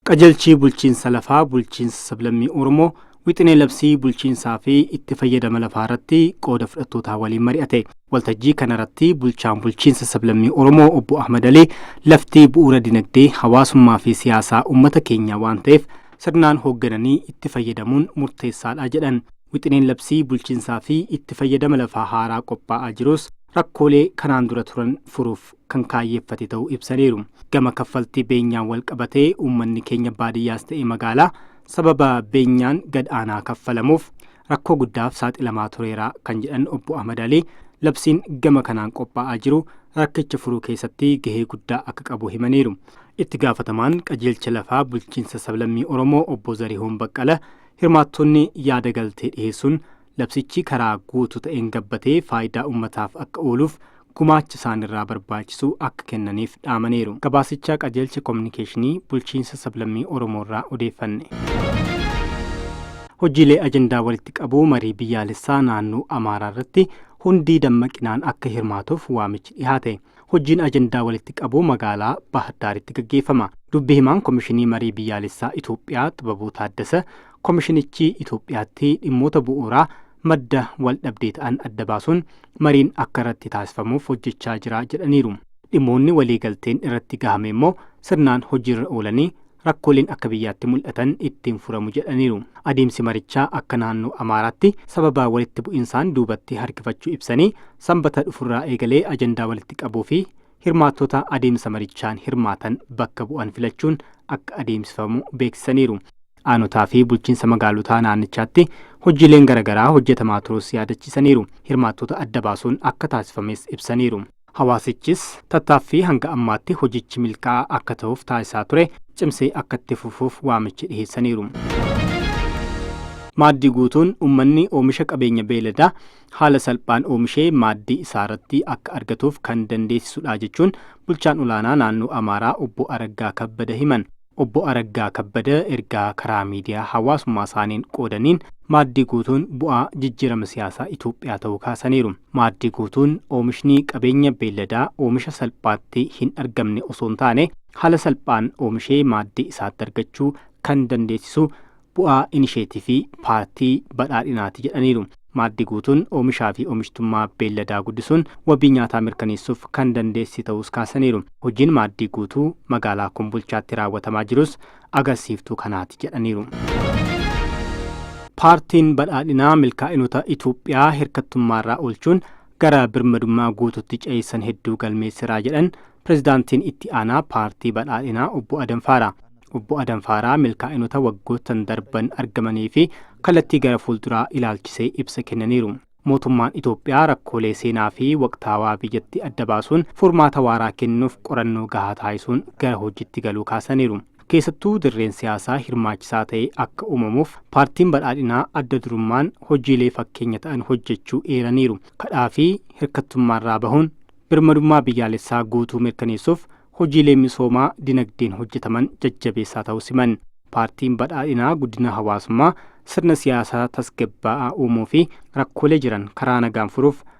Qajeelchi bulchiinsa lafaa bulchiinsa sablammii Oromoo wixinee labsii bulchiinsaa fi itti fayyadama lafaa irratti qooda fudhattootaa waliin mari'ate. Waltajjii kana irratti bulchaan bulchiinsa sablammii Oromoo obbo Ahmad Alii lafti bu'uura dinagdee, hawaasummaa fi siyaasaa uummata keenyaa waan ta'eef sirnaan hooggananii itti fayyadamuun murteessaadha jedhan. Wixineen labsii bulchiinsaa fi itti fayyadama lafaa haaraa qophaa'aa jirus rakkoolee kanaan dura turan furuuf kan kaayyeffate ta'uu ibsaniiru. Gama kaffaltii beenyaan walqabatee uummanni keenya baadiyyaas ta'e magaalaa sababa beenyaan gad aanaa kaffalamuuf rakkoo guddaaf saaxilamaa tureera kan jedhan obbo Ahmad Alii labsiin gama kanaan qophaa'aa jiru rakkicha furuu keessatti gahee guddaa akka qabu himaniiru. Itti gaafatamaan qajeelcha lafaa bulchiinsa sablammii Oromoo obbo Zarihuun Baqqala hirmaattonni yaada galtee dhiheessuun Labsichi karaa guutuu ta'een gabbatee faayidaa ummataaf akka ooluuf gumaacha isaanirraa barbaachisu akka kennaniif dhaamaniiru. Gabaasicha Qajeelcha Kominikeeshinii Bulchiinsa Sablammii Oromoorraa odeeffanne. Hojiilee ajandaa walitti qabuu marii biyyaalessaa naannoo Amaaraarratti hundi dammaqinaan akka hirmaatuuf waamichi dhihaate. Hojiin ajandaa walitti qabuu magaalaa Baahirdaaritti gaggeeffama. Dubbi himaan Komishinii Marii Biyyaalessaa Itoophiyaa Xibabuu Taaddasa Komishinichi Itoophiyaatti dhimmoota bu'uuraa madda waldhabdee ta'an adda baasuun mariin akka irratti taasifamuuf hojjechaa jira jedhaniiru. Dhimmoonni waliigalteen irratti gahame immoo sirnaan hojiirra oolanii rakkooleen akka biyyaatti mul'atan ittiin furamu jedhaniiru. Adeemsi marichaa akka naannoo Amaaraatti sababa walitti bu'insaan duubatti harkifachuu ibsanii, Sambata dhufurraa eegalee ajandaa walitti qabuu fi hirmaattota adeemsa marichaan hirmaatan bakka bu'an filachuun akka adeemsifamu beeksisaniiru. Aanotaa fi bulchiinsa magaalotaa naannichaatti hojiileen garagaraa hojjetamaa turuus yaadachiisaniiru. Hirmaattota adda baasuun akka taasifames ibsaniiru. Hawaasichis tattaaffii hanga ammaatti hojichi milkaa'aa akka tahuuf taasisaa ture cimsee akka itti fufuuf waamicha dhiheessaniiru. Maaddii guutuun ummanni oomisha qabeenya beeyladaa haala salphaan oomishee maaddii isaarratti akka argatuuf kan dandeessisudha jechuun bulchaan olaanaa naannoo Amaaraa obbo Araggaa Kabbada himan. Obbo Araggaa Kabbada ergaa karaa miidiyaa hawaasummaasaaniin qoodaniin, Maaddii Guutuun bu'aa jijjiirama siyaasaa Itoophiyaa ta'uu kaasaniiru. Maaddii Guutuun oomishni qabeenya beelladaa oomisha salphaatti hin argamne osoo hin taane, haala salphaan oomishee maaddii isaatti argachuu kan dandeessisu bu'aa inisheetifii paartii badhaadhinaati jedhaniiru. Maaddi guutuun oomishaa fi oomishtummaa beelladaa guddisuun wabii nyaataa mirkaneessuuf kan dandeessise ta'uus kaasaniiru. Hojiin maaddii guutuu magaalaa Kombolchaatti raawwatamaa jirus agarsiiftuu kanaati jedhaniiru. Paartiin Badhaadhinaa milkaa'inota Itoophiyaa hirkattummaarraa oolchuun gara birmadummaa guututti ceessan hedduu galmeessera jedhan pirezidaantiin itti aanaa paartii badhaadhinaa obbo Adam Faaraa. Obbo Adam Faaraa milkaa'inota waggoottan darban argamanii fi kallattii gara fuulduraa ilaalchisee ibsa kennaniiru. Mootummaan Itoophiyaa rakkoolee seenaa fi waqtaawaa biyyatti adda baasuun furmaata waaraa kennuuf qorannoo gahaa taasisuun gara hojiitti galuu kaasaniiru. Keessattuu dirreen siyaasaa hirmaachisaa ta'e akka uumamuuf Paartiin Badhaadhinaa adda durummaan hojiilee fakkeenya ta'an hojjechuu eeraniiru. Kadhaa fi hirkattummaarraa bahuun birmadummaa biyyaalessaa guutuu mirkaneessuuf hojiilee misoomaa dinagdeen hojjetaman jajjabeessaa ta'uus himan. Paartiin Badhaadhinaa guddina hawaasummaa, sirna siyaasaa tasgabbaa'aa uumuu fi rakkoolee jiran karaa nagaan furuuf